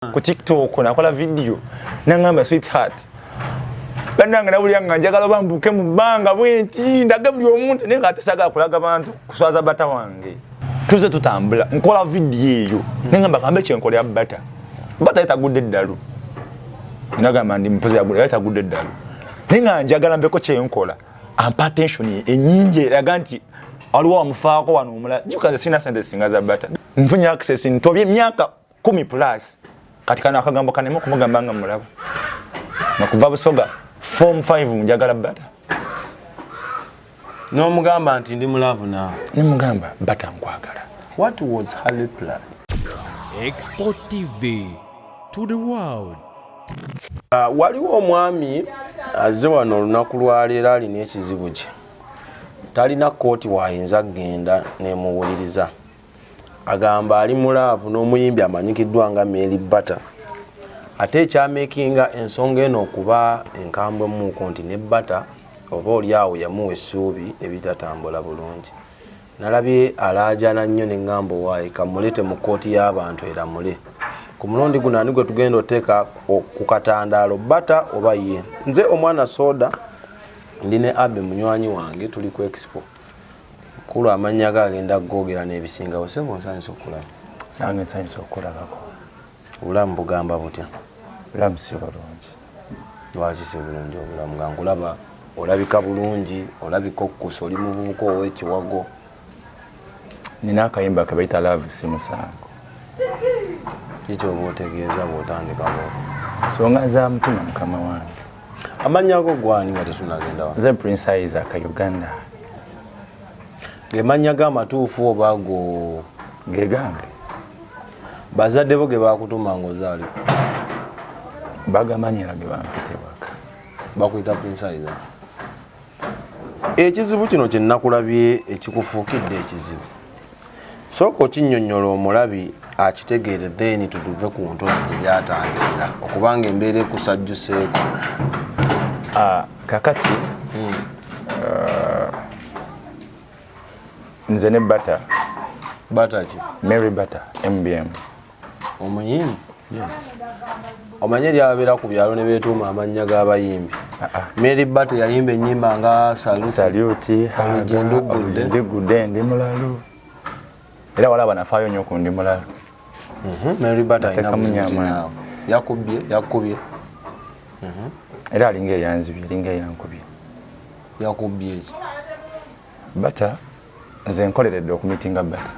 ku tiktok nakola vidiyo nangamba sweetheart banange nawulira nga njagala oba mbuuke mu bbanga bwenti ndage buli omuntu naye nga atesagala kulaga bantu kuswaza bata wange tuze tutambula nkola vidiyo eyo nengamba kambe kyenkolera bata bata yetagudde eddalu nagamba ndi mpuzi yagula yetagudde eddalu naye nga njagala mbeko kyenkola ampa attention enyingi eraga nti waliwo wamufaako wano omulala jukaze sina sente singa za bata nfunye access ntobye emyaka kumi plus kati kano akagambo kanema okumugamba nga mulaba nakuva busoga form 5 njagala bata nomugamba nti ndi mulavu na nemugamba bata nkwagala what was her reply export tv to the world uh, waliwo omwami azze wano olunaku lwaleero alina ekizibu kye talina kooti waayinza kugenda nemuwuliriza agamba ali mu laavu n'omuyimbi amanyikiddwa nga Mary Bata ate ekyamekinga ensonga eno okuba enkambwe muuko nti ne Bata oba oli awo yamuwa essuubi ebitatambula bulungi nalabye alaajana nnyo ne ŋŋamba owaayi kamulete mu kkooti y'abantu eramule ku mulundi guno ani gwe tugenda oteeka ku katandaalo Bata oba ye nze omwana soda ndi ne abe munywanyi wange tuli ku expo Mukulu amannya go agenda kugoogera n'ebisingawo. Ssebo nsanyuse okukulaba. Nange nsanyuse okukulabako. Obulamu bugamba butya? Obulamu si bulungi. Lwaki si bulungi obulamu nga nkulaba olabika bulungi olabika okukusa oli muvubuka ow'ekiwago. Nina akayimba ke bayita laavu si musango. Kiki oba otegeeza bw'otandika bw'otyo? Nsonga za mutima mukama wange. amannya ago gwani nga tetunagenda wa nze prince isaac uganda gemannya ga amatuufu oba go gegange bazadde bo ge bakutuma nga ozaali bagamanyira ge bampitebaka bakuyita prince isaac ekizibu kino kyenakulabye ekikufuukidde ekizibu sooka okinyonyola omulabi akitegeere then tuduve ku ntozi gyebyatangirira okubanga embeera ekusajjuseeko ah, kakati hmm. ah, nze ne bata bata ki mary bata mbm omuyimbi omanye lyababeera ku byalo ne beetuuma amannya g'abayimbi ah, ah. mary bat yayimba ennyimba nga salutindigudde ndi mulalu era wala banafaayo nyo ku ndi mulalu mhm, mary bat alinamunyama yakubye yakubye mhm. era alinga eyanzibye alinga eyankubye yakubye eki bata nze nkoleredde okumitinga bata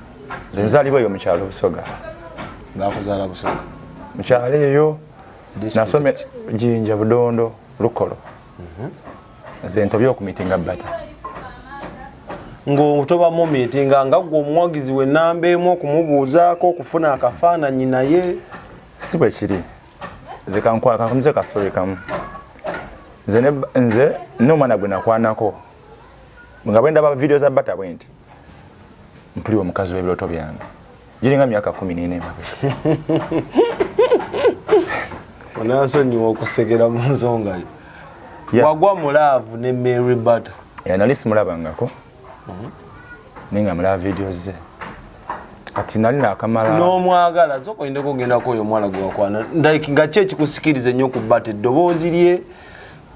nze nzalibwa eyo mukyalo busoga bakuzala busoga mukyalo eyo nasome jinja budondo lukolo mhm. nze ntobye okumitinga bata ng'otoba mu miitinga nga gwe omuwagizi we namba emu okumubuuzaako okufuna akafaananyi naye si bwe kiri nze kankwakamuze kasitole kamu nze nze n'omwana gwe nakwanako nga bwendaba video za bata bwenti mpuli omukazi webiroto byange giringa myaka kumi nina emabega onansonyiwa okusegera mu nsonga yo wagwa mulaavu ne mary bata nali simulabangako mhm. naye nga mulaba video ze kati nali nakamala nomwagala zoka oyinda kugendako oyo omwana gwewakwana like nga ki ekikusikiriza ennyo okubbata eddoboozi lye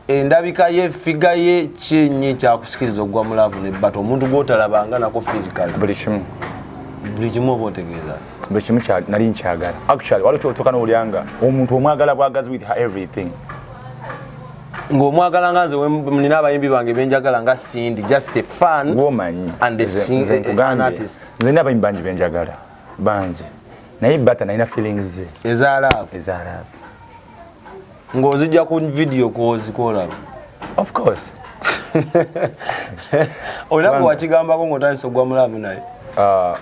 endabika ye figa ye kyenyi kyakusikiriza okugwa mu laavu ne bata omuntu gwotalabanga nako physical buli kimu buli kimu oba otegeeza buli kimu nali nkyagala actually waliwo kyotuuka nowulira nga omuntu omwagala bwagazi with everything ng'omwagala nga nze nina abayimbi bange benjagala nga sindi just a fun womanyi and an artist nze nina abayimbi bangi benjagala bangi naye bata nalina feelings ze eza laavu eza laavu ng'ozijja ku vidiyo kwozikoolaba of course olina bwe wakigambako ng'otandisa ogwa mulaavu naye ah,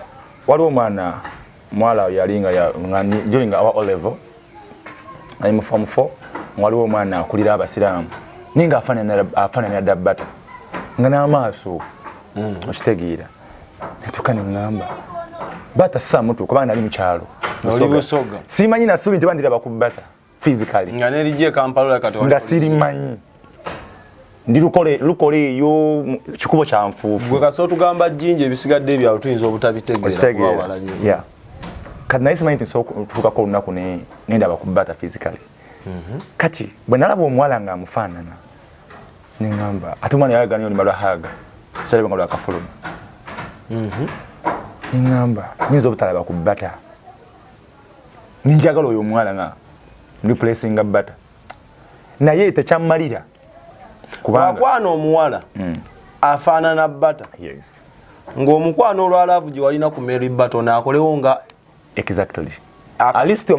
waliwo omwana mwala yali ngajolinga awa olevel ali mu form four waliwo omwana akulira abasiraamu naye ngaafaananira dabbata nga n'amaaso hmm. okitegeera natuka neŋamba bata samutu kubanga nali mukyalo simanyi nasubi nti bandira bakubata physically nga nelije e kampala kati nga sirimanyi ndi lukole lukole eyo kikubo kya nfuufu gwe kasi otugamba jinja ebisigadde ebyawo tuyinza obutabitegeera yeah. kati naye simanyi nti nsobola olunaku nendaba kubata physically mm -hmm. kati bwe nalaba omuwala nga amufaanana nengamba ate omwana yayagala nyo olumba lwa haga salaba nga lwakafuluma mhm. nengamba nyinza obutalaba ku bata ninjagala oyo omwana nga replacinga bata naye tekyamalira kubangakwana omuwala mm. afaanana bata ngaomukwano olwalaavu gye walina ku mary baton akolewo nga exactly at least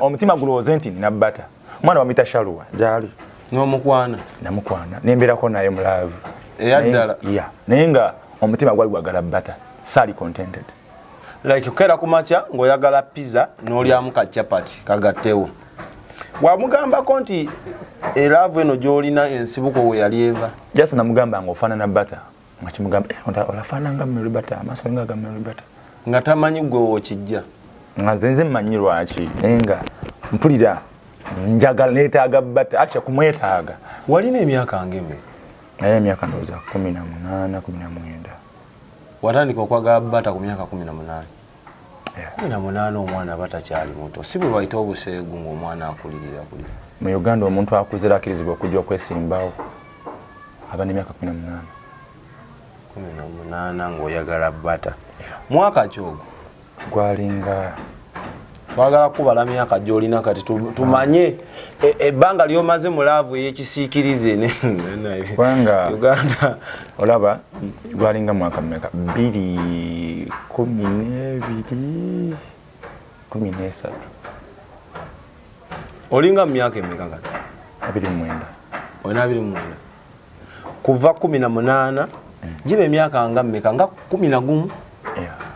omutima gulowooze nti nina bata mwana wamita shaluwa gyali nomukwana namukwana nemberako naye mulaavu eyaddala ya naye nga omutima gwali gwagala bata saali contented like kukera ku makya ng'oyagala pizza n'olyamu ka chapati kagattewo wamugambako nti eraavu eno gy'olina ensibuko we yali eva jasi namugamba ng'ofaanana bata nga kimugamba eh, olafaana nga mulibata amaaso nga aga mulibata nga tamanyi gwe wokijja nga zenze mmanyi lwaki naye nga mpulira njagala neetaaga bata akya kumwetaaga walina emyaka ngeme naye emyaka ndowooza kumi na munaana kumi na mwenda watandika okwagala bata ku myaka kumi na munaana na munaana omwana aba takyali muto si bwe bayita obuseegu ng'omwana akulirira buli mu uganda omuntu akuzira akirizibwa okujja okwesimbawo aba nemyaka kumi namunaana kumi namunaana ng'oyagala bata mwaka ki ogwo gwalinga twagala kubala myaka gyolina kati tumanye ah. E, ebbanga e, lyomaze mu laavu eyekisiikirize kubanga uganda olaba gwalinga mwaka mumeka bbiri kumi nebiri kumi nesatu olinga mu myaka emeka kati abiri mwenda olina abiri mwenda kuva kumi na munaana mm. giba emyaka nga mumeka nga kumi na gumu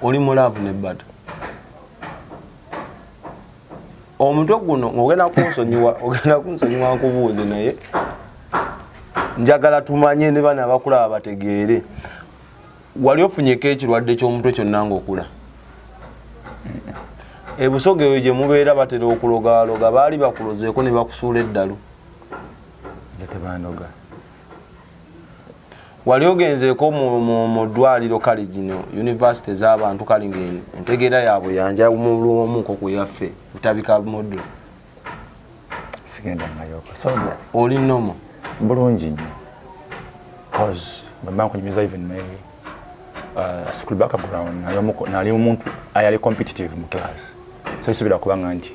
oli mu laavu nebbata omutwe guno ng'ogenda kunsonyiwa ogenda kunsonyiwa nkubuuze naye njagala tumanye ne bana abakulaba bategeere wali ofunyeko ekirwadde ky'omutwe kyonna ng'okula ebusoga eyo gye mubeera batera okulogaloga baali bakulozeeko ne bakusuula eddalu wali ogenzeeko mu ddwaliro kale gino univesity z'abantu kale nga entegeera yaabwe yanja mulwomuko ku yaffe butabika modo oli nomo bulungi nyo bcause bwemba nkunyumiza even my uh, school background nali omuntu ayali competitive mu class so isubira kubanga nti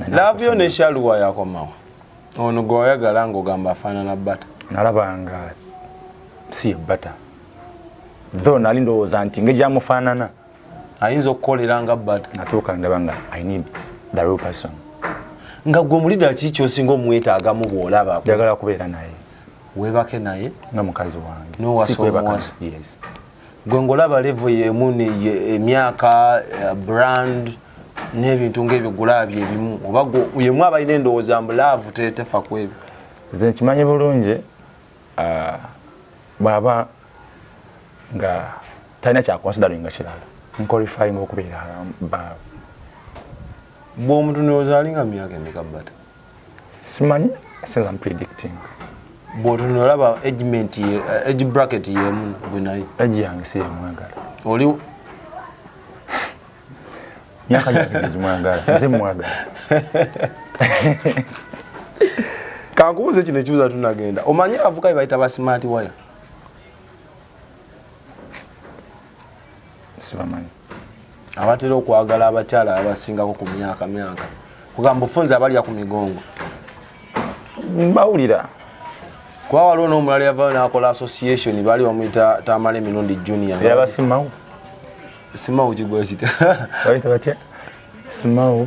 laavu yo neshaluwa yakomawo Ono gwe wayagala ng'ogamba afaanana bata? Nalaba nga si ye bata, though nali ndowooza nti nge gyamufaanana ayinza okukolera nga bata. Natuuka ndaba nga I need the real person. Nga gwe mulida kiki kyosinga omwetaagamu bw'olaba? Njagala kubeera naye. Weebake naye? Nga mukazi wange. N'owasa omuwasa? Yes. gwe ngolaba levo yemu neye emyaka eh, brand n'ebintu ngaebyo gulabye ebimu oba yemu abalina endowooza mbu laavu tetefa ku ebyo nze nkimanyi bulungi ah, bwaba nga talina kyakonsidering nga kirala nkolifayinga okubeera baawe bwomutu nozaalinga myaka emeka bata simanyi says I'm predicting bwotunula olaba agement ye eh, age bracket yemu gwe naye age yange si yamwagala oli myaka gyange gimwagala nze mwagala kankubuze kino ekibuza tunagenda omanyi abavuka bebayita ba smart wire sibamanyi abatera okwagala abakyala abasingako ku myaka myaka kugamba ofunza abalya ku migongo mbawulira kuba waliwo n'omulala yavayo n'akola association baali bamuyita tamala emirundi junior yaba simawo simawo kigwa kita babita batya simawo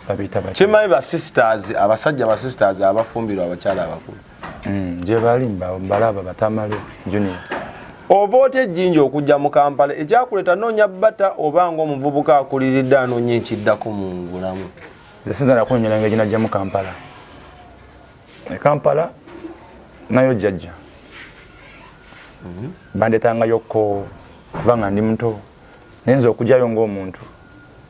babita batya kimanyi ba sisters abasajja ba sisters abafumbirwa abakyala abakulu mm, gyebali mbalaba batamale junior oba otya ejjinja okujja mu kampala ekyakuleta noonya bata oba nga omuvubuka akuliridde anoonya ekiddako mu ngulamu esinza nakunyola nga ejinajja mu kampala e kampala nayo jjajja mhm. bandetangayo ko kuba nga ndi muto naye nza okujayo ngaomuntu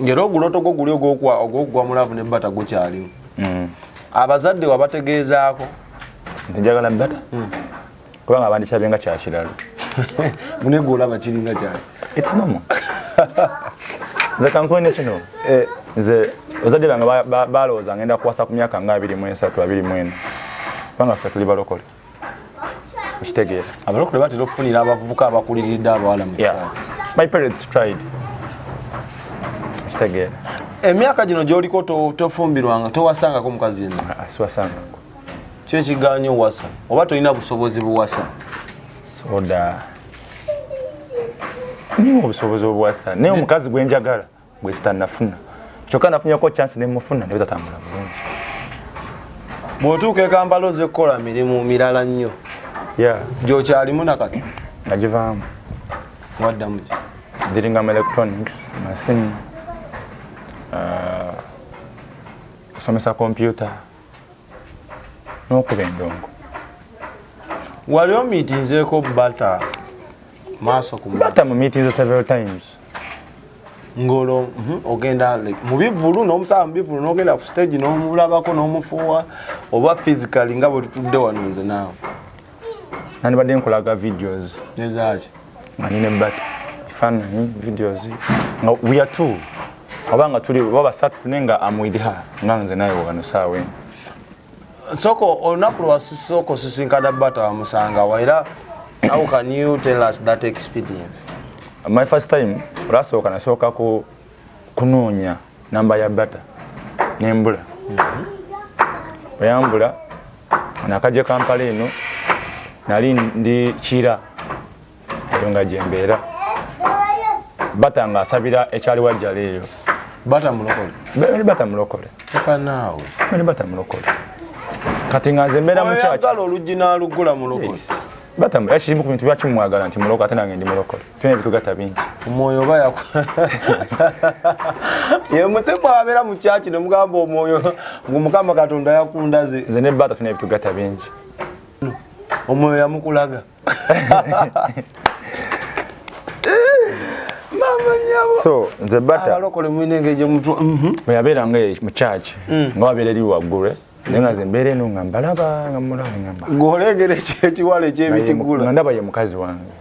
ngera oguloto gwo guli ogwokugwa mu laavu ne bata gukyaliwo hmm. abazadde wabategeezaako njagala bata hmm. kubanga abandikyabe nga kyakiralo mune gwe olaba kiringa kyali etinomo nze kankuwe nekino eh. nze bazadde bange balowooza ngenda kuwasa ku myaka nga abiri mu esatu abiri mu ena kubanga ffe tuli balokole okitegeera abalokole batera okufunira abavubuka abakuliridde abawala mu my parents tried okitegeera emyaka gino gyoliko tofumbirwanga towasangako mukazi yenna ah, ah, siwasangako kyo ekiganya owasa oba tolina busobozi buwasa soda niwo obusobozi obuwasa naye omukazi gwenjagala bwesita nafuna kyokka nafunyeko chance nemufuna naye tatambula bulungi bwotuuka ekampala oze kukola mirimu mirala nnyo gyokyalimu nakati nagivaamu waddamu ki diringa mu electronics masimu uh, kusomesa kompyuta nokuba endongo wali omitinzeko bata maaso kubata mumitinze several times ngolo mhm, ogenda mubivulu nomusaba mubivulu nogenda ku stage nomulabako nomufuwa oba physically nga bwetutudde wano nze naawe nandibadde nkulaga videos ezaaki nga nine bat efaananyi videos nga we are two oba nga tuli oba basatu tune nga am with her nga nze naye wano saawa eno soko olunaku lwasisoko sisinkana bata wamusangawa era how can you tell us that experience my first time olasooka nasooka ku kunoonya namba ya bata nembula oyambula mhm. nakajja kampala eno nali ndi kira eyo nga gyembeera bata nga asabira ekyali wajjala eyo bata mulokole bali bata mulokole naawe bali bata mulokole kati nga nze mbeera mukyakala oluggi nalugula mulokole batambula era kirimu ku bintu lwaki mumwagala nti muloko ate nange ndi mulokole tulina ebitugatta bingi omwoyo oba yaku ye musekwa abeera mu kyaki ne mugamba omwoyo ngu mukama katonda yakundaze nze ne baata tulina ebitugatta bingi omwoyo yamukulaga so nze bata abalokole mwine ngeje mtu mhm. bwe yabera nge mu church mm. nga wabera eri wagure naye nga zembeera eno nga mbalaba nga mulaba ngamba ng'olengera ekiwala ekyebitigula nga ndaba ye mukazi wange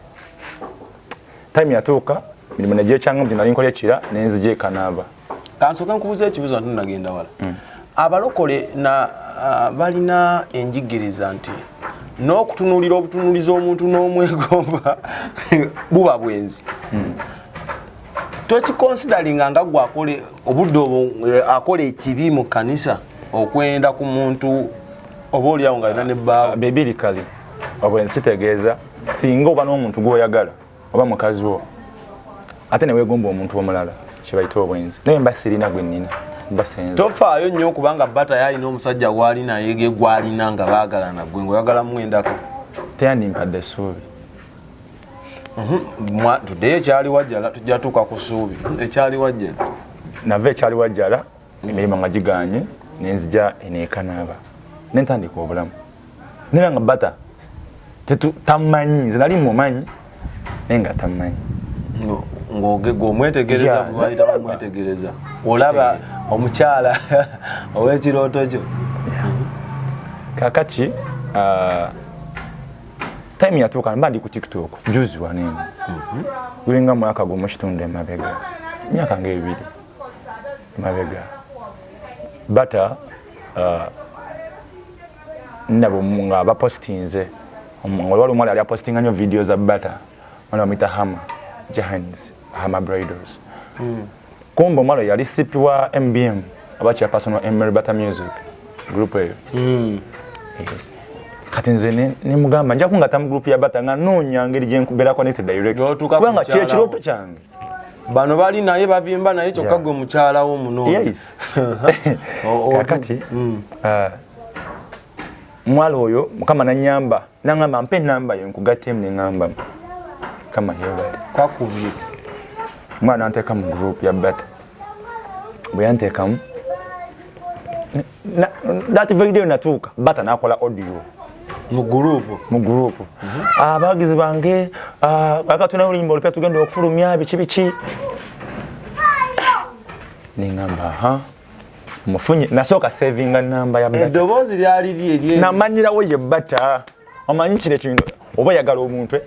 time yatuuka mirimu negyekyanga mbu nali nkolya kira nenzija ekanaaba kansoka nkubuza ekibuzo nti nagenda wala hmm. abalokole na ah, balina enjigiriza nti n'okutunuulira obutunuulizi omuntu n'omwegomba buba bwenzi hmm. tokikonsidalinga nga gwe obudde obwo eh, akola ekibi mu kanisa okwenda ku muntu oba olyawo nga alina ne bbaawo ah, bibiri kale oba ensi tegeeza singa oba n'omuntu gw'oyagala oba mukazi wo ate ne weegomba omuntu omulala kyebayita obwenzi naye mba sirina gwe nnina tofaayo nnyo kubanga bata yalina omusajja gwali naye ge gwalina nga baagalana gwe ngaoyagala mwendako teyandimpadde essuubi mhm. tuddeyo ekyali wajjala tujja tuuka ku ssuubi ekyali wajjala nava ekyali wajjala emirimu nga giganye nenzija enekanaaba nentandika obulamu nera nga bata tamanyi nze nali mumanyi naye nga tamanyi ngomwetegerezamwetegereza olaba omukyala owekirooto kyo kakati uh, time yatuuka mba ndi ku tiktok juzi wanene mhm. gulinga mwaka gwomukitundu emabega myaka nga ebiri mabega bata uh, nabo nga bapostinze waliwo omuwala yali apostinga nyo video za bata mwana bamwita hama jahans hama bridals mm. kumbe omuwala yali sipi wa mbm aba chairperson wa mary bata music group eyo mm. Eh, kati nze nemugamba njakungata mu group ya bata nga noonya ngeri gyebeera connected directkubanga kyekirooto kyange bano bali naye bavimba naye kyokka gwe mukyala wo munokakati mm. uh, mwala oyo mukama nanyamba nangamba mpe enamba yo nkugatemu neŋamba mukama yebale kwakubye mwana nanteka mu group ya bata bwe yantekamu that very day natuuka bata nakola audio mu group mu group abagizi ah, bange ah, akatuna olimba olupya tugenda okufulumya biki biki ningamba ha mufunye nasooka savinga namba ya eddoboozi lyali lyerye namanyirawo ye bata omanyi kino ekintu oba yagala omuntu eh?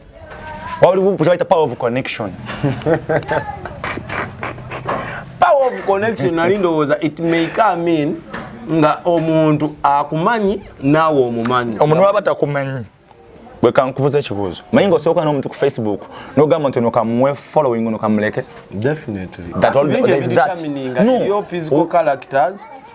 waliwo kyabaita power of connection power of connection nali ndowooza it may come in nga omuntu akumanyi naawe omumanyi omuntu waba takumanyi gwe kankubuza ekibuuzo manyi nga osooka n'omuntu ku facebook nogamba nti nokamuwe following nokamuleke definitely that all, that is that no. your physical characters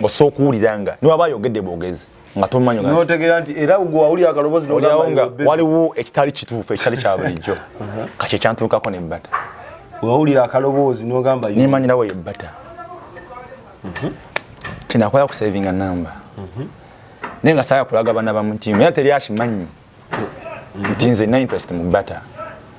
ng'osobola okuwulira nga niwaba ayogedde bwogezi nga tomanyi notegeera nti era gwe wawulira akalobozi nolyawo nga waliwo ekitali kituufu ekitali kya bulijjo uh-huh. kakyo ekyantuukako ne bata wawulira akaloboozi nogamba nemanyirawo ye bata uh-huh. kinakola kusavinga namba uh-huh. naye nga saaya kulaga bana bamutimu era teri akimanyi nti nze na interest mu bata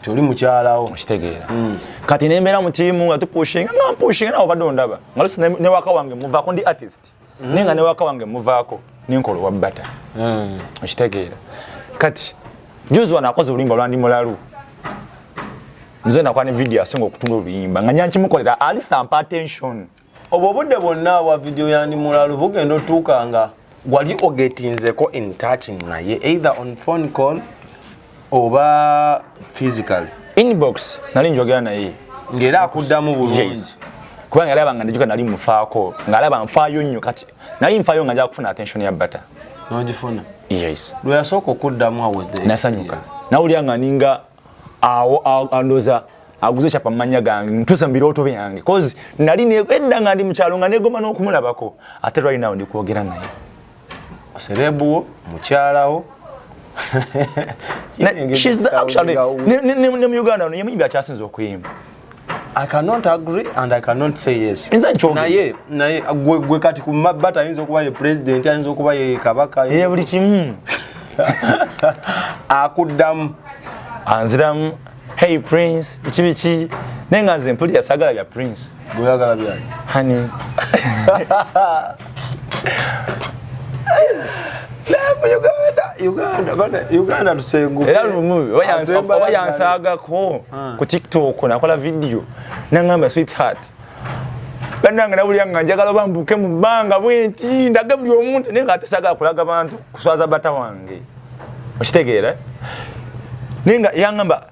toli mukyalawo okitegeera mm. kati nembeera mu tiimu nga tupushinga nga mpushinga nawe obadde ondaba nga lusi ne waka wange muvaako ndi artist mm. naye nga ne waka wange muvaako nenkola owa bata mm. okitegeera kati juzi wano akoze oluyimba olwandi mulalu nze nakuba ne vidiyo asinga okutunda oluyimba nga nyankimukolera alisa mpa attention obwo obudde bwonna bwa vidiyo yandi mulalu bugenda otuuka nga wali ogetinzeko in touch naye either on phone call oba physical inbox nali njogera naye ng'era akuddamu bulungi kubanga alaba nga ndijuka nali mufaako ng'alaba nfaayo nnyo kati naye nfaayo nga nja kufuna attention ya bata nogifuna yes lweyasooka okuddamu awasnasanyuka nawulira nga ninga awo andoza aguze chapa manya gange ntusa mbiroto byange cause nali ne edda ngandi mukyalo nga negoma no kumulabako ate right now ndi kuogera naye serebu mukyalawo she's the actually ne ne ne mu Uganda no yemuyimbi akyasinze okuyimba I cannot agree and I cannot say yes. Nze nchoge. Na ye, na ye, gwe, gwe kati kumabata ayinza okuba ye president, ayinza okuba ye kabaka. Ye buli kimu. Akuddamu. Anziramu, hey prince, iki biki, nenga nze mpulira sagala bya prince. Gwe yagala bya. Honey. era lumu oba yansagako ah. ku tiktok nakola vidiyo nangamba sweetheart banange nawulira nga njagala oba mbuke mu bbanga bwenti ndage buli omuntu naye nga atesagala kulaga bantu kuswaza bata wange okitegeera naye nga yangamba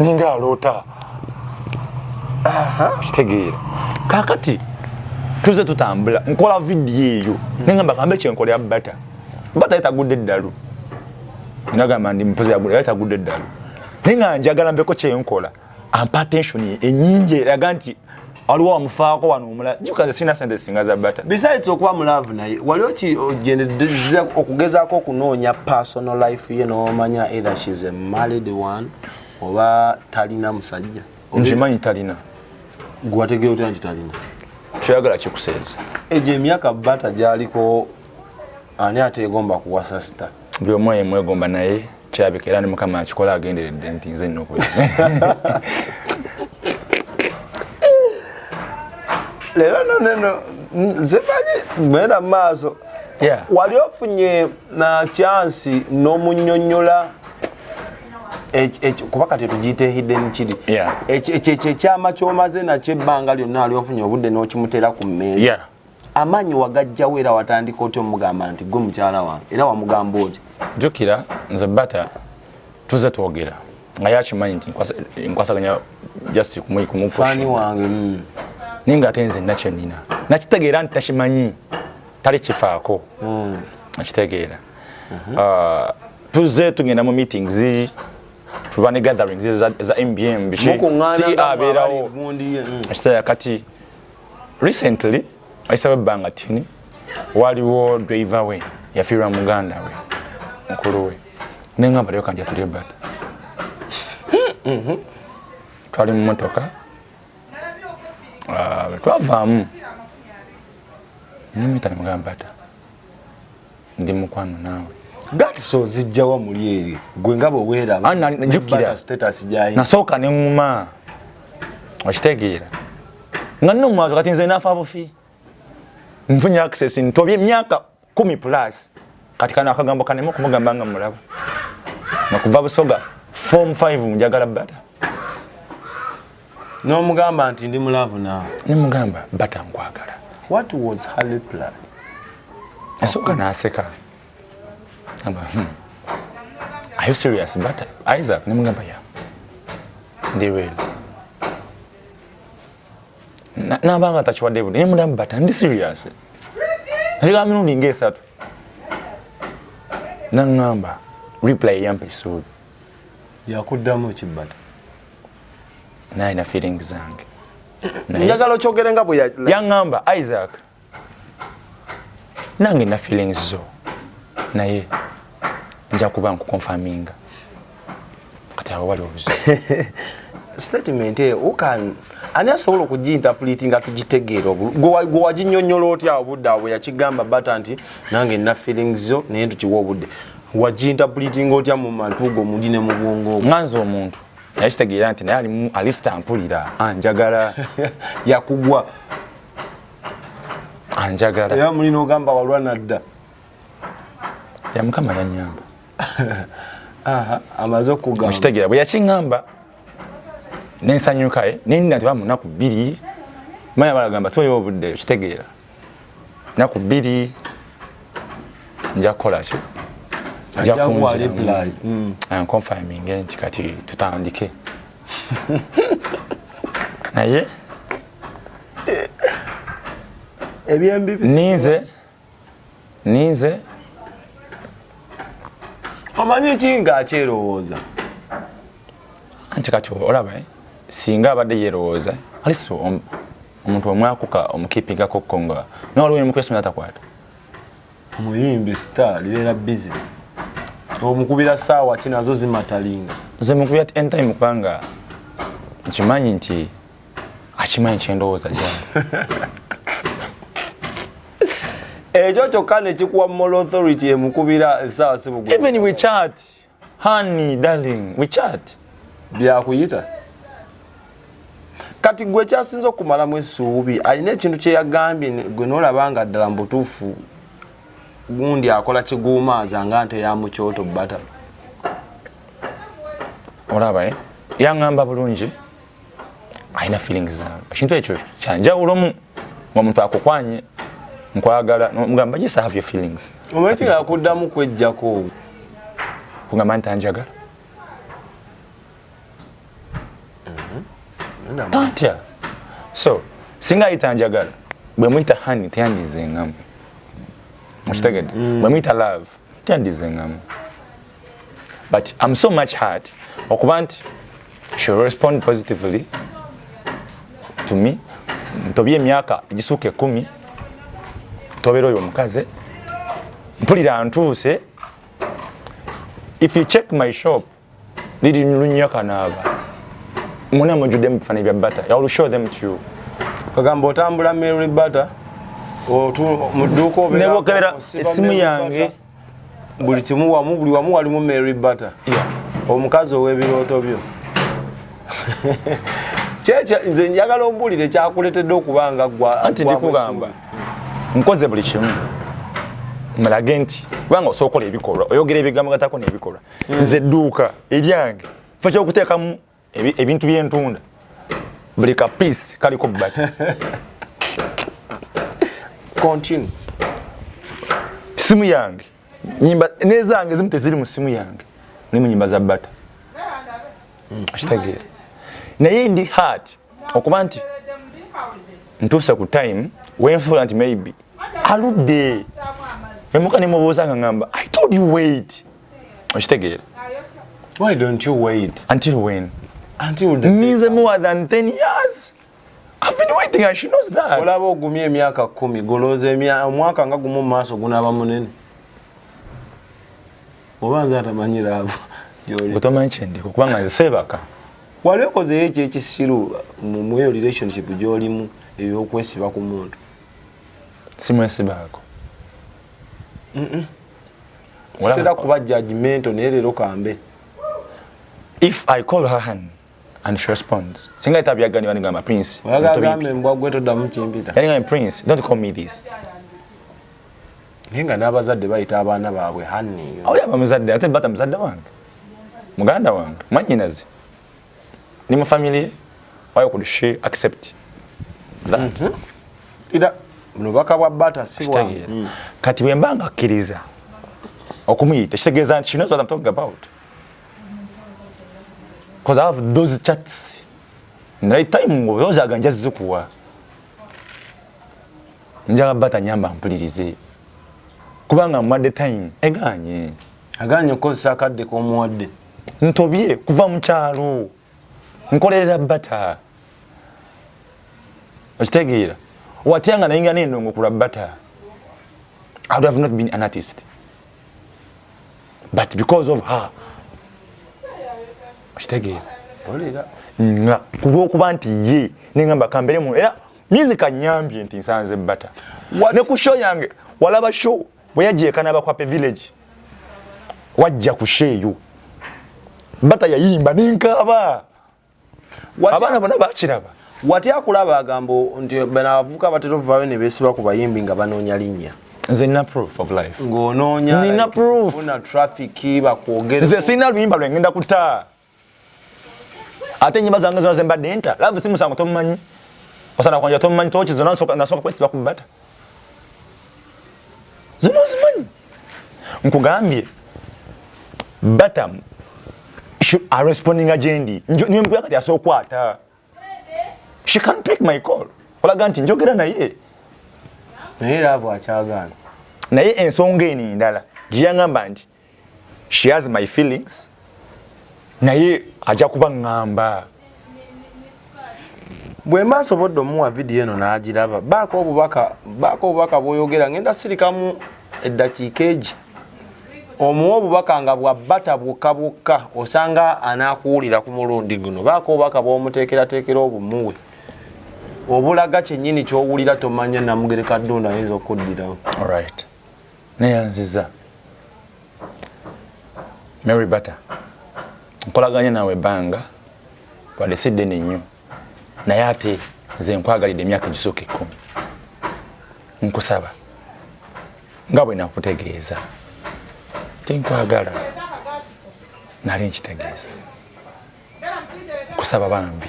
ninga aloota kitegeera kakati tuze tutambula nkola vidiyo eyo nengamba kambe kyenkolera bata bata yetagudde eddalu nagamba ndi mpuzi yagula yetagudde eddalu naye nga njagala mbeko kyenkola ampa attention enyingi eraga nti waliwo amufaako wano omulala kikaze sirina sente singa za bata besides okuba mulaavu naye wali okigendeza okugezaako okunoonya personal life ye nomanya either shes a married one oba talina musajja nkimanyi talina gwategera otya nti talina kyoyagala kikuseeza egyo emyaka bata gyaliko ani ateegomba kuwasa sita buli omu aye mwegomba naye kyabika era ne mukama akikola agenderedde nti nze nina okubeera leero no neno zimanyi genda mu maaso wali ofunye na kyansi n'omunyonyola kuba kati tugiyita ehidden kiri ekyo ekyama kyomaze nakyo ebbanga lyonna ali ofunye obudde n'okimuteera ku mmeeri amaanyi wagajjawo era watandika otya omugamba nti gwe mukyala wange era wamugamba oti jukira nze bata tuze twogera nga yakimanyi nti nkwasaganya just kumufani wange mm. naye nga ate nze nakyenina nakitegeera nti takimanyi tali kifaako mm. nakitegeera mhm. uh, tuze tugenda mu meetings tuba ne gatherings za mbm biki si abeerawo mm. ekitaya kati recently ayisaba ebbanga tini waliwo driver we yafiirwa muganda we mukulu we nengamba leyo kanja tulye bata twali mumotoka ah, twavaamu nimita nemugamba bata ndi mukwano naawe gats ozijjawa muli eri gwe nga bweweerabnasooka ne ŋuma okitegeera nga nno mwazo kati nze nafa bufi nfunye access ntobye emyaka kumi plus kati kano akagambo kanema okumugamba nga mulaba nakuva busoga form 5 njagala bata nomugamba nti ndi mulavu naawe nemugamba bata nkwagala what was her reply yasooka naseka amba hmm. are you serious bata isaac nemugamba ya ndi real nabanga takiwadde budi nemugamba bata ndi serious nakigamba mirundi ngaesatu nangamba reply yampa esuubi yakuddamu ekibata naye na feeling zange njagala okyogere nga bweyaŋamba isaac nange na feelings zo naye nja kuba nkukonfaminga kati awo wali obuzibu statement eyo ukan ani asobola okugiintapuliti nga tugitegeera gwe waginyonyola otya obudde awo yakigamba bata nti nange nina feelings zo naye ntukiwa obudde wagiintapuliti nga otya mu mantuugo omuli ne mubwongo nga nze omuntu naye kitegeera nti naye alimu alisita ampulira anjagala yakugwa anjagala era muli nogamba walwa nadda ya mukama yanyamba amaze okugamba okitegeera bwe yakiŋamba nensanyukae eh? nenda nti bamunaku bbiri maya balagamba tweyo obudde okitegeera naku bbiri nja kukola ki njakunfirminge mm. nti kati tutandike naye ninze ninze omanyi ki nga akyerowooza nti kati olaba eh? singa abadde yerowooza aliso omuntu omwakuka omukipigako ko nga naye waliwo nemukwesi natakwata muyimbi star libeera busy omukubira saawa ki nazo zimatalinga nze mukubira ti entime kubanga nkimanyi nti akimanyi kyendowooza gyange ekyo kyokka nekikuwa mol authority emukubira esaawa sibugu even we chat honey darling we chat byakuyita kati gwe kyasinze okumalamu esuubi alina ekintu kyeyagambye gwe nolaba nga ddala mubutuufu gundi akola kiguumaaza nga nte yamukyoto bata olaba eh? yangamba bulungi alina feelings zange ekintu ekyo kyanjawulomu nga omuntu akukwanye nkwagala mugamba yes have your feelings omwekyo yakuddamu kwejjako kugamba nti anjagala mm-hmm. tantya so singa ayita anjagala bwe muyita hani teyandizengamu okitegedde mm. bwe muyita love teyandizengamu but am so much hard okuba nti she respond positively to me ntobye emyaka egisuuka ekumi tobera oyo omukazi mpulira ntuuse if you check my shop liri lunya kanaaba muna mujudde mu bifaananyi bya butter i will show them to you kagamba otambula mary butter nebokebera esimu yange buli kimu wamu buli wamu walimu mary butter omukazi ow'ebirooto byo nze njagala ombuulire kyakuletedde okuba nga gwanti ndikugamba nkoze buli kimu mulage nti kubanga osobola okola ebikolwa oyogera ebigambo gatako n'ebikolwa hmm. nze edduuka eryange fa kyokuteekamu ebintu byentunda buli ka piece kaliko baki continue simu yange nyimba nezange zimu teziri mu simu yange ni mu nyimba za bata mm. akitegeera naye ndi hard okuba nti ntuuse ku time wenfuula nti maybe aludde emuka nemubuuza nga ngamba i told you wait okitegeera why don't you wait until when until the ninze more than 10 years I've been waiting and she knows that olaba ogumye emyaka 10 golooza emyaka omwaka nga gumu maaso gunaba munene oba nze atamanyira abo otomanyi kyendiko kubanga nze seebaka wali okozeyo ekyo ekisiru mumweyo relationship gyolimu eyokwesiba ku muntu simwesibaako sitera kuba judgmental naye leero kambe if i call her hand and she responds singa ita byagani bani gamba prince oyagagambe mbwa gwe todamu kimpita yani gamba prince don't call me this ninga n'abazadde bayita abaana baabwe hanni awuli abamuzadde ate bata muzadde wange muganda wange mwanyinazi ni mu family why could she accept that mm -hmm. ida nobaka bwa bata si bwa mm. kati bwe mbanga akiriza okumuyita kitegeza nti she knows what i'm talking about because i have those chats naye time ngo yoza aganja zukuwa njaba bata nyamba mpulirize kubanga mwadde time eganye aganye okozesa akadde komuwadde ntobye kuva mu kyalo nkolerera bata okitegeera watya nga naye nga nendongo kula bata i would have not been an artist but because of her okitegeera olera nga kulwokuba nti ye nengamba kamberemu era music anyambye nti nsanze bata ne ku show yange walaba show bwe yajja ekanaba kwape village wajja kusheeyo bata yayimba nenkaaba abaana bona bakiraba watya akulaba agamba nti abavuka batera ovaayo ne beesiba ku bayimbi nga banoonya linnya nze nina proof of life ng'onoonya nina proof na traffic bakwogere nze sirina luyimba lwengenda kutaa ate enyimba zange zona zembadde nta love si musango tomumanyi osana kwanja tomumanyi toki zona nasooka kwesiba ku bata zona ozimanyi nkugambye batam arespondinga gyendi niwe mugula kati asookwata she can pick my call olaga nti njogera naye naye laavu akyagaana naye ensonga eno endala gyeyangamba nti she has my feelings naye ajja kuba ŋŋamba bwe mba nsobodde omuwa vidiyo eno n'agiraba baako obubaka baako obubaka bw'oyogera ngenda sirikamu eddakiika egi omuwa obubaka nga bwabbata bwokka bwokka osanga anaakuwulira ku mulundi guno baako obubaka bwomuteekerateekera obumuwe obulaga kyennyini kyowulira tomanya namugereka ddunda ayinza okuddirawo right neyanziza mary butter nkolaganye nawe ebbanga wadde si ddene nnyo naye ate nze nkwagalidde emyaka egisooka ekkumi nkusaba nga bwe nakutegeeza tinkwagala nali nkitegeeza nkusaba bambi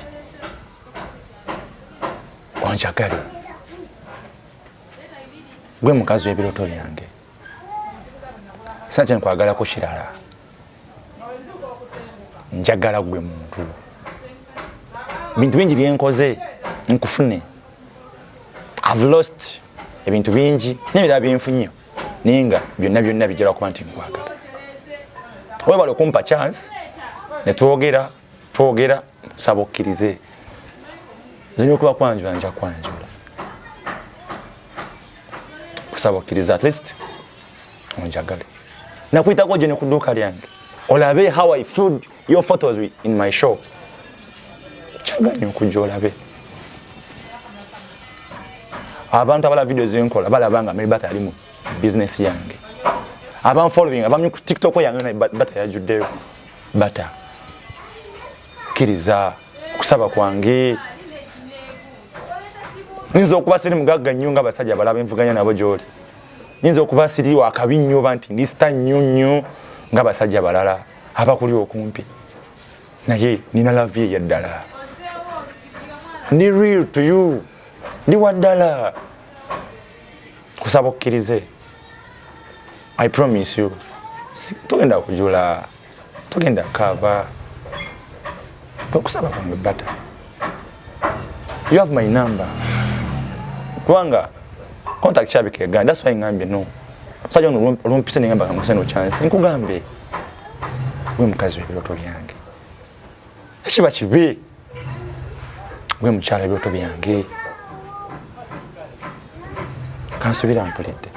onjagale gwe mukazi w'ebirooto byange sa kye nkwagalako kirala njagala gwe muntu bintu bingi byenkoze nkufune have lost ebintu bingi nebirala byenfunye naye nga byonna byonna bijala kuba nti nkwagala webale okumpa chance netwogera twogera saba okkirize nze nyokuba kwanjula nja kwanjula kusaba okkirize at least onjagale nakuyitako gye ne ku dduuka lyange olabe how i food your photos in my shop kyaganyo okujja olabe abantu abala video zenkola balaba nga mary bata ali mu bizinesi yange abanfollowing abamnyi ku tiktok yange naye bata yajuddeyo bata kiriza kusaba kwange nyinza okuba siri mugagga nnyo nga basajja balaba envuganya nabo gyoli nyinza okuba siri wakabi nnyo ba nti ndisita nnyo nnyo nga basajja balala abakuli okumpi naye nina lavi eyaddala ndi real to you ndi waddala kusaba okkirize I promise you. Togenda kujula. Togenda kava. Tokusaba kwange bata. You have my number. Kwanga contact chabi ke ganda that's why ngambe no. Sajo no room pisa ngamba kama seno chance. Nkugambye. Wewe mkazi wa biloto byange. ekiba kibi gwe mukyala ebyoto byange kansubira mpulidde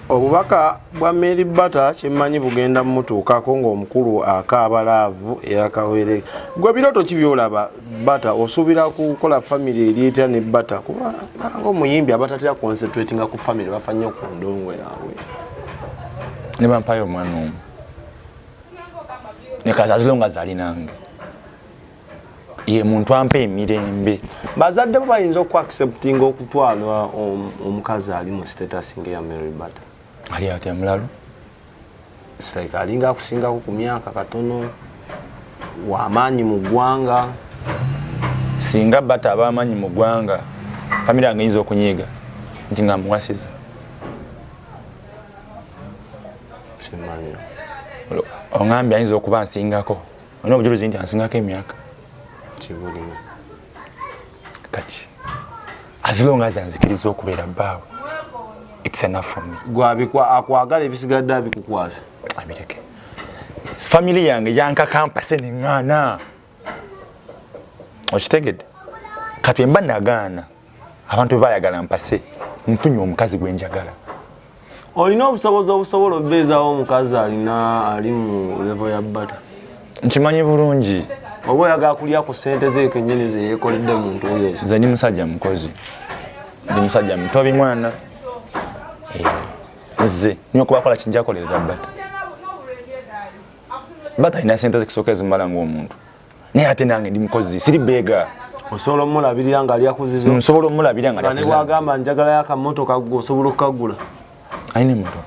obubaka bwa mary bata kyemmanyi bugenda mumutuukako ngaomukulu akaaba laavu eyakawere gwe biroto ki byolaba bata osuubira kukola famiry eri etya ne bata kuba nga omuyimbi abatatera concentratinga ku famiry bafa nnyo ku ndongo yaabwe ne bampayo omwana omu nekazazilonga zali nange ye muntu ampa emirembe bazadde bo bayinza okuacceptinga okutwala omukazi ali mu status ngaeya mary butter ali atya mulalu like alinga akusingako ku myaka katono wamaanyi mu ggwanga singa bata abamaanyi mu ggwanga famire yange yinza okunyiiga nti nga muwasiza ongambye ayinza okuba ansingako olina obujulizi nti ansingako emyaka kibulina kati as long as anzikiriza okubeera bbaawe it's enough for me gwabikwa akwagala ebisigadde abikukwasa abireke family yange yankakampase neŋŋaana okitegedde kati mba nagaana abantu bebayagala mpase nfunye omukazi gwenjagala olina obusobozi obusobola obeezawo omukazi alina ali mu levo ya bata nkimanyi bulungi oba oyagala kulya ku sente zekenyini zeyekoledde muntu oyo nze ndi musajja mukozi ndi musajja mutobi mwana eh, nze nyokubakola kinjakolerera bata mba talina sente zekusoka ezimala ngaomuntu naye ate nange ndi mukozi siri beega osobola omulabirira nga alyakuzizo nsobola omulabirira nga nebwagamba njagala yakamotoka gwe osobola okukagula alina emotoka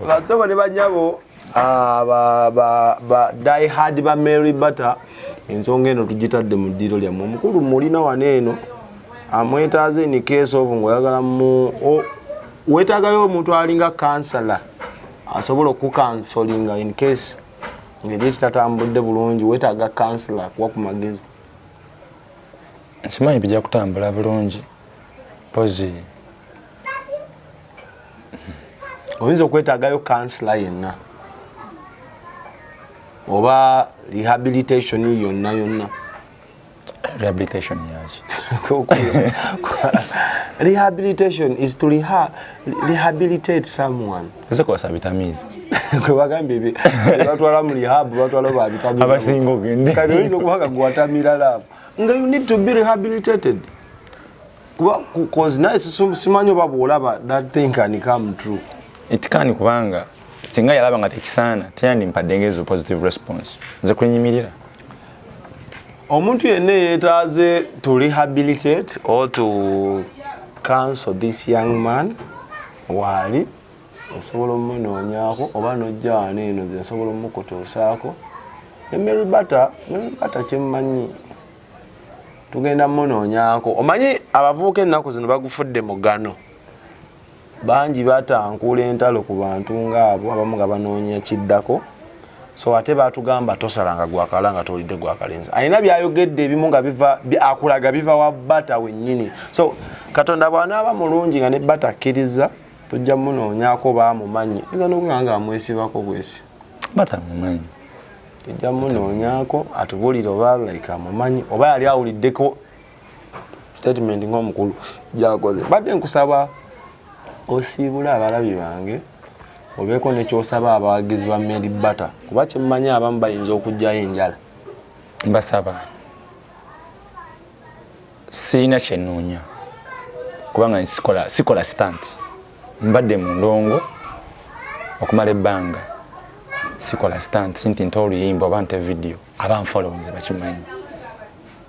basobo ne banyabo ah, diehard ba mary butter ensonga eno tugitadde mu ddiiro lyammwe omukulu mulina wano eno amwetaaze in case of ngaoyagala mu wetagayo omuntu alinga kansala asobola okukansolinga in case ngeri ekitatambudde bulungi wetaaga kansala akuwa ku magezi nkimanyi bijja kutambula bulungi pozi oyinza okwetagayo kansala yenna oba rehabilitation yonna yonna rehabilitation yaki rehabilitation is to reha rehabilitate someone ese kwa sabitamizi kwe bagambye bi batwala mu rehab batwala ba bitamizi abasingo gende kali wizo kubaga gwatamira love nga you need to be rehabilitated kuba cause naye simanyo babu olaba that thing can come true it can kubanga singa yalaba nga tekisaana teyandimpadde ngezo positive response nze kwenyimirira omuntu yenna eyetaaze to rehabilitate or to counsel this young man waali osobola omunoonyako oba nojja wano eno ze nsobola omukutuusaako ne mary bata mary bata kyemmanyi tugenda munoonyako omanyi abavuuka ennaku zino bagufudde mugano bangi batankuula entalo ku bantu ngaabo abamu nga banoonya kiddako so ate batugamba tosalanga gwakala nga towulidde gwakalenzi alina byayogedde ebimu nga biva akulaga biva wa bata wenyini so katonda bwanaaba mulungi nga ne bata akkiriza tujja munoonyako bamumanyi eza nokuga nga amwesibako bwesi batamumanyi tujja munoonyako atubulire oba like amumanyi oba yali awuliddeko statement ng'omukulu gyakoze badde nkusaba osiibule abalabi bange obeeko nekyosaba abawagizi ba mary batter kuba kyemmanyi abamu bayinza okugyayo enjala mbasaba sirina kyenoonya kubanga sikola sikola stant mbadde mu ndongo okumala ebbanga sikola stant nti nta oluyimba oba nta evidiyo abanfolowinze bakimanyi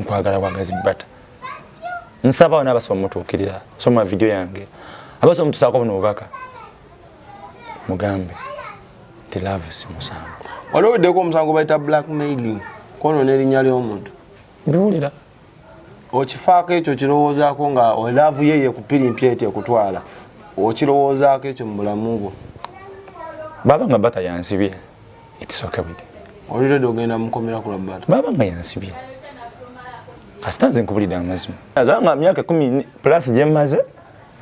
nkwagala bwagazi bata nsaba wana abasoma mutuukirira soma vidiyo yange abasoma mutusaako buno bubaka mugambe nti love si musango waliwo weddeko omusango bayita black mailing kono n'erinnya ly'omuntu biwulira okifaako ekyo kirowoozaako nga olaavu ye yekupirimpya eti ekutwala okirowoozaako ekyo mu bulamu bwo baba nga bata yansibye It's okay with me. Oli ready ogenda mukomera ku labata. Baba nga yansibye. Kasita nze nkubulidde amazima. Azanga myaka 10 plus gye maze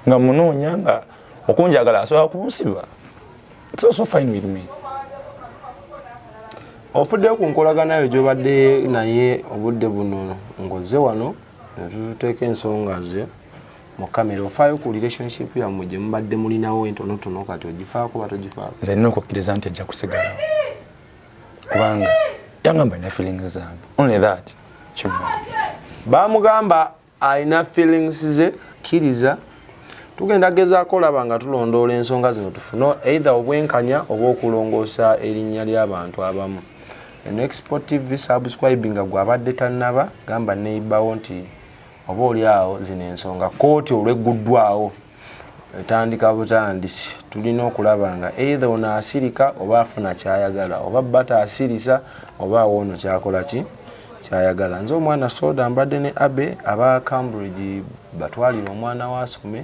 nga munoonya nga okunjagala asobola kunsiba. It's also fine with me. ofudde ku nkolagana yo gyobadde naye obudde buno ngoze wano netututeeka ensonga ze mu kamera ofaayo ku relationship yammwe gye mubadde mulinawo entonotono kati ogifaako oba togifaako nze nina okukkiriza nti ajja kusigalawo kubanga yangamba alina feelings zange only that kimumala bamugamba alina feelings ze kkiriza tugenda gezaako olaba nga tulondoola ensonga zino tufune either obwenkanya oba okulongoosa erinnya ly'abantu abamu enexport tv subscribinga gwabadde tannaba gamba neibawo nti oba oli awo zino ensonga kooti olwegguddwawo etandika butandisi tulina okulaba nga eitha ono asirika oba afuna kyayagala oba bata asirisa oba awo ono kyakola ki kyayagala nze omwana soda mbadde ne abe aba cambridge batwalire omwana wasome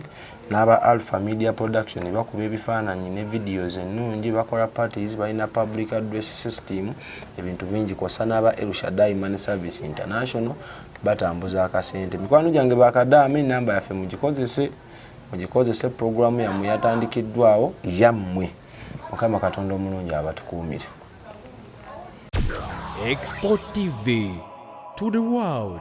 n'aba alpha media production bakuba ebifaananyi ne videos ennungi bakola parties balina public address system ebintu bingi kwossa n'aba elshadai money service international batambuza akasente mikwano gyange bakadaama enamba yaffe mugikozese mugikozese puroguramu yammwe yatandikiddwawo yammwe mukama katonda omulungi abatukuumire Export TV to the world.